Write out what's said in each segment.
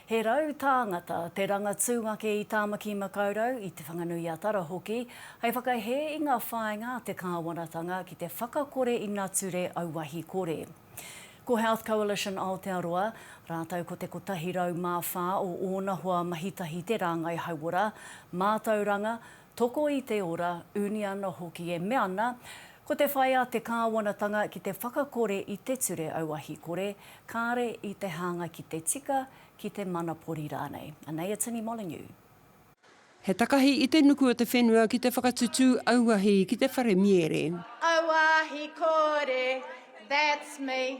He rau tāngata te rangatūngake i Tāmaki Makaurau, i Te Whanganui-a-Tara hoki, hei whakahē i ngā whāinga a te kāwanatanga ki te whakakore i nature auahi kore. Ko Health Coalition Aotearoa, rātou ko te 104 o ōna hoa mahitahi te rāngai hauora, mātauranga, Toko i te ora, uniana hoki e mea ana, Ko te whai a te kāwanatanga ki te whakakore i te ture auahi kore, kāre i te hānga ki te tika, ki te manapori rānei. Anei a Tini Molyneux. He takahi i te nuku o te whenua ki te whakatutū auahi ki te wharemiere. Auahi kore, that's me.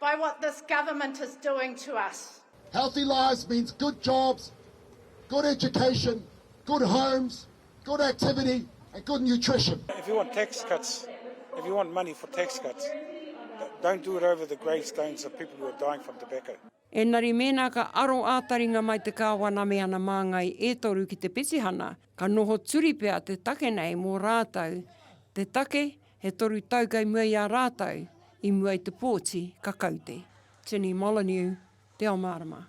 By what this government is doing to us. Healthy lives means good jobs, good education, good homes, good activity and good nutrition. If you want tax cuts, if you want money for tax cuts, don't do it over the grave stones of people who are dying from tobacco. Engari mēnā ka aro ā-taringa mai te Kāwana me ana māngai e toru ki te petihana, ka noho turi pea te take nei mō rātou, te take He toru tau kei mua i a rātou, i mua i te pōti, ka kau te. Jenny Molyneux, Te ao mārama.